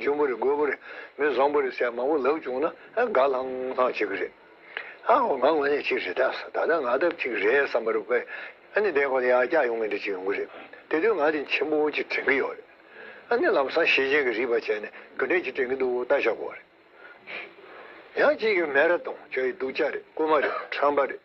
ཆུན་པོ་རེ་རྒོད་པོ་རེ་མི་བཟང་པོ་རེ་ཟེར་མང་པོ་ལབ་བྱུང་ན་དགའ་ལྷང་ལྷང་བྱེད་ཀྱི་རེད། ཨ་ཧོ་ང་ངོ་ཉེ་ཆེ་རེད་ད་ད་ལྟ་ང་ལྟ་ཅིག་རེད་བསམ་པ་རུ་དཔེ་ཨ་ནི་དེ་ཁོ་ན་ཡར་བཀྱག་ཡོང་གི་འདྲ་ཅིག་ཡོང་གི་རེད་དེ་དུས་ང་དེ་མཆན་བུ་བོ་ཅིག་དྲན་གྱི་ཡོད་རེད་ཨ་ནི་ལམ་སང་ཤེས་ཅན་གྱི་རིགས་པ་བྱས་ནས་ག་འདྲས་ཅིག་དྲན་གྱི་འདུག་ལྟ་ཤ་གོ་རེད། ཡང་གཅིག་གིས་མེ་ར་དང་ཁྱོད་ཡི་སྡུག་ཅག་རེད་རྐུན་མ་རེད་ཁྲམ་པ་རེད།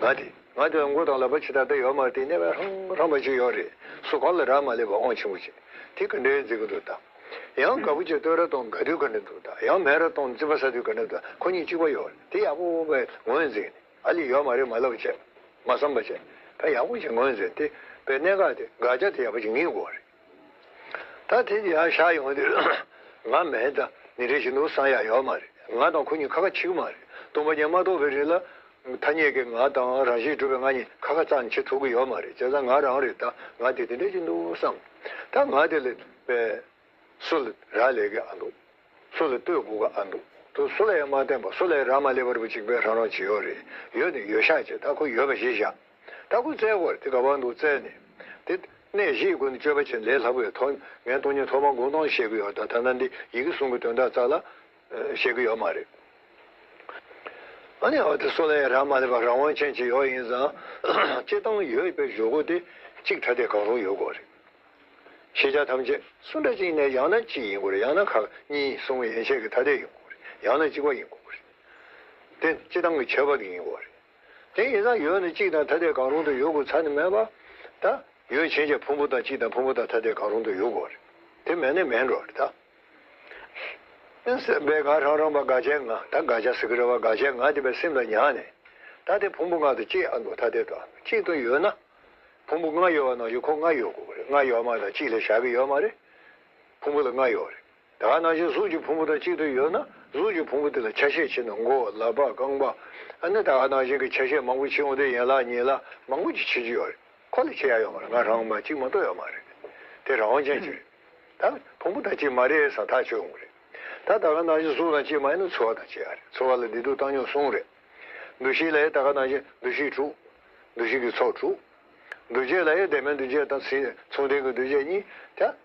ང་དེ་ང་དེ་ལ་མགོ་དང་ལག་པ་ཇི་ལྟར་བསྡད་ཡོད་མ་བལྟས་གནས་པའི་ཧྲང་ཧྲང་པ་ཅིག་ཡོད་རེད་སུ་གང་ལ་རག་མ་ལས་པ་ཨོང་ཆེན་པོ་ཅིག་དེ་ག་འདྲའི་མཛེས་ཀྱི་འདུག་ད་ཡང་དགའ་བོ་ཅིག་སྟོད་ར་སྟོང་དགའ་དུས་ག་འདྲ་འདུག་ད་ཡང་མེ་ར་སྟོང་རྩིད་པ་ཟ་དུས་ག་འདྲ་འདུག་ཁོ་གཉིས་གཅིག་པ་ཡོད་རེད་དེ་ཡག་པོ་བའི་ངོས་འཛིན་ཨ་ལི་ཡོད་མ་རེད་མ་ལབ་བྱས་མ་བསམ་པ་བྱས་ད་ཡག་པོ་ཅིག་ངོས་འཛིན་དེ་བས་གནད་འགག་དེ་འགག་བྱ་དེ་ཡག་པོ་ཅིག་ངེས་དགོས་རེད། ད་དེ་འདི་ཡང་ཤར་ཡོང་དུས་ང་མེད་ད་ནི་རེ་ཞིག་འདུག་བསམ་ཡག་ཡོད་མ་རེད་ང་དང་ཁོ་གཉིས་ཁ་ཁ་འཆི་གི་མ་རེད་སྟོང་པ་རྒྱན་མ་རྟོགས་པའི་རིགས་ལ། ཐ་སྙད་ཀྱི་ང་དང་རང་བཞིན་གྲུབ་པའི་ང་གཉིས་ཁ་ཁ་རྩ་ནས་འཆི་ཐུབ་གི་ཡོད་མ་རེད་བྱས་ཙང་ང་རང་རེད་ད་ང་དེ་དེ་འདྲ་ཞིག་འདུག་བསམ་ད་ང་དེ་ལས་པས་སུ་ལ་རག་ལས་གི་ཨ་འདུག་སུ་ལ་ལྟོས་དགོས་གི་ཨ་འདུག་དུ་སུ་ལ་ཡང་མ་བསྟན་པ་སུ་ལ་ཡང་རག་མ་ལས་པ་རུ་གཅིག་པའི་རང་རང་ཇི་ཡོད་རེད་ཡོད་ནི་ཡོད་ཤག་བྱས་ད་ཁོ་ཡོད་པ་ཞིག་བཞག། ད་ཀུན་བཙལ་བར་དེ་དགའ་བར་འདུག་བཙལ་ནས། དེ། གནས་བཞིའི་ཀུན་ཏུ་སྤྱོད་པ་ཆེན་ལས་ལྷག་པའི་ཐོག་ངས་སྟོང་ཉིད་ཐོག་མར་དགོངས་དོན་བཤད་གི་ཡོད་ད་ཐ་ན་འདི་ཡི་གེ་གསུམ་གི་དོན་དག་རྩ་ལ། བཤད་གི་ཡོད་མ་རེད། ཨ་ནི་འོ་དེ་སུ་ལ་ཡང་རག་མ་ལས་པ་རང་དབང་ཅན་གྱི་ཡོག་ཡིན་ཙང། སྤྱི་བཏང་ཡོད་པའི་བཞུགས་སྒོ་དེ་གཅིག་ཐ་དད་གང་རུང་ཡོད་དགོས་རེད། ཤེས་བྱ་ཐམས་ཅད་སུ་འདྲ་གཅིག་ནས་ཡང་ན་གཅིག་ཡིན་དགོས་རེད་ཡང་ན་ཁག་གཉིས་གསུམ་ཡན་ཆད་ཀྱི་ཐ་དད་ཡིན་དགོས་རེད་ཡང་ན་གཅིག་པ་ཡིན་དགོས་རེད། དེ་སྤྱི་བཏང་གི་ཁྱད་པར་ཡིན་དགོས་རེད། དེ་ཡིན་ན་ཡོད་ནི་གཅིག་དང་ཐ་དད་གང་རུང་དུ་ཡོད་དགོས་ཚར་ནི་མེད་པ། ད། ཡོད་བྱེད་ཀྱི་ཕུང་པོ་དང་གཅིག་དང་ཕུང་པོ་དང་ཐ་དད་གང་རུང་དུ་ཡོད་དགོས་རེད། དེ་མེད་ནི་མེད་འགྲོ་རེད་ད། སེམས་དཔའི་དགའ་རང་རང་བ་དགའ་བྱའི་ང་ད་དགའ་བྱ་ཟེར་གི་རེད་བ་དགའ་བྱའི་ང་དེ་བས་སེམས་ལ་ཉག་ནས། ད་དེ་ཕུང་པོ་ལྔ་དང་གཅིག་ཨ་མདོ་ཐ་དད་དང་གཅིག་དང་ཡོད་ན། ཕུང་པོ་ལྔ་ཡོད་བ་ནང་བཞིན་ཁོ་ལྔ་ཡོད་དགོས་རེད་ལྔ་ཡོད་མ་ད་གཅིག་ལས་བཞག་གི་ཡོད་མ་རེད། ཕུང་པོ་ལ་ལྔ་ཡོད་རེད། དག་སྣང་བཞི་གཟུགས་ཀྱི་ཕུང་པོ་དང་གཅིག་ཏུ་ཡོད་ན་གཟུགས་ཀྱི་ཕུང་པོ་དེ་ལ་ཆ་ཤས་ཕྱི་ནང་མགོ་བོ་ལག་པ་རྐང་པ། ཨ་ནི་དག་སྣང་གཞན་གྱི་ཆ་ཤས་མང་པོ་ཕྱི་འོང་དུས་ཡན་ལག་གཉིས་ལ་མང་པོ་ཅིག་ཕྱི་ཅི་ཡོད་རེད་ཁོ་ལ་ཆ་ཡ་ཡོད་མ་རེད་ང་རང་མ་གཅིག་མ་གཏོགས་ཡོད་མ་རེད་དེ་རང་དབང་ཅན་གཅིག་རེད་ད་ཕུང་པོ་དང་གཅིག་མ་རེད་ས་ཐག་ཆོད་འོང་རེད་ད་དག་སྣང་བཞི་གཟུགས་དང་གཅིག་མ་ཡིན་ན་ཚོར་བ་དང་ཆ་ཡ་རེད་ཚོར་བ་ལ་བདེ་སྡུག་བཏང་སྙོམས་གསུམ་རེད། འདུ་ཤེས་ལ་ཡང་དག་སྣང་བཞི་འདུ་ཤེས་དྲུག། འདུ་ཤེས་ཀྱི་ཚོགས་དྲུག། འདུ་བྱེད་ལ་ཡང་བདེ་སྨོན་འདུ་བྱེད་དང་མཚུངས་ལྡན་གྱི་འདུ་བྱེད་གཉིས།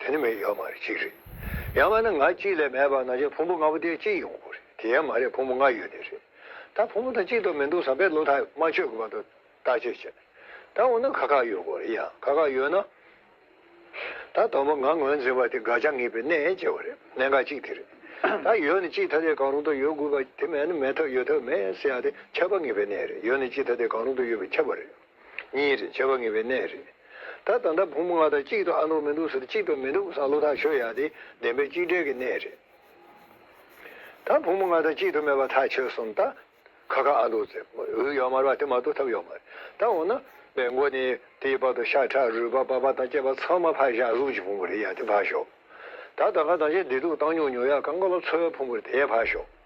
དེ་ནི་མི་ཡོད་མ་རེད་གཅིག་རེད། ཡང་མ་ན་ང་གཅིག་ལས་མེད་པར་ན་ཆ་ཕུང་པོ་ལྔ་པོ་དེ་གཅིག་ཡིན་དགོས་རེད་དེ་ཡང་མ་རེད་ཕུང་པོ་ལྔ་ཡོད་ནི་རེད། ད་ཕུང་པོ་དང་གཅིག་ཏུ་མི་འདུག་བསམ་པའི་བློ་ཐག་མ་ཆོད་དགོས་པ་དང་བརྟག་དཔྱད་བྱེད། ད་འོ་ན་ཁ་ཁ་ཡོད་དགོས་རེད་ཡང་ཁ་ཁ་ཡོད་ན། ད་དང་པོ་ང་ངོས་འཛིན་པ་དེ་དགག་བྱ་ངེས་པའི་གནས་བཅས་བ་རེད་གནད་འགག་གཅིག་དེ་རེད། ད་ཡོད་ནི་གཅིག་ཐ་དད་གང་རུང་དུ་ཡོད་དགོས་པ་དེ་མེད་ན་མེད་ཐབས་ཡོད་ཐབས་མེད་ཟེར་ཡ་དེ་ཁྱབ་པ་ངེས་པའི་གནས་རེད་ཡོད་ནི་གཅིག་ཐ་དད་གང་རུང་དུ་ཡོད་པའི་ཁྱབ་པ་རེད། གཉིས་རེད་བྱ་བ་ངེས་པའི་གནས་རེད། ད་ད་ལྟ་བུ་མོ་ང་དང་གཅིག་ཏུ་ཨ་འདུག་མི་འདུག་ཟེར་གཅིག་ཏུ་མི་འདུག་བསམ་བློ་ཐག་ཆོད་ཡག་དེ་བདེན་པའི་གཅིག་བསྒྲིལ་གྱི་གནས་རེད། ད་བུ་མོ་ང་དང་གཅིག་ཏུ་མེད་པ་ཐག་ཆོད་སོང་ད། ཁ་ཁ་ཨ་འདུག་ཚེ་འུ་ཡོག་མར་བ་དེ་མ་གཏོགས་ཐབས་ཡོག་མ་རེད་ད་འོ་ན། པའི་མགོ་ནས་དེའི་བར་དུ་ཤ་ཁྲག་རུས་པ་པགས་པ་དང་སྐྱེས་པ་ཚང་མ་ཕར་བཞག་གཟུགས་ཀྱི་ཕུང་པོ་རེད་ཡག་དེ་ཕར་ཞོག་ད་ད་ག་དང་ཆེ་བདེ་སྡུག་བཏང་མྱོང་མྱོང་ཡག་ག་འགོ་ལ་འཚོ་བའི་ཕུང་པོ་རེད་དེ་ཡག་ཕར་ཞོག།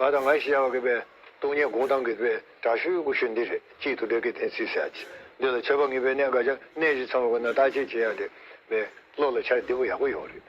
ང་དང་ང་ཞེས་བྱ་བ་གི་སྟོང་ཉིད་དགོངས་དྭངས་གི་དྲག་ཤུལ་དགུ་ཤུལ་འདི་རེད་ཅེས་དུ་སྦྲེལ་གྱི་གཏན་ཚིགས་བྱ། འདི་ལ་འཆད་པ་ངེས་པའི་གནད་འགའ་ཆ་གནས་བཞི་ཚང་བ་ཁོ་ན་བརྟག་དཔྱད་བྱེད་ཡག་དེ་བས་བློ་ལ་འཆར་བདེ་པོ་ཡག་པོ་ཡོང་རེད།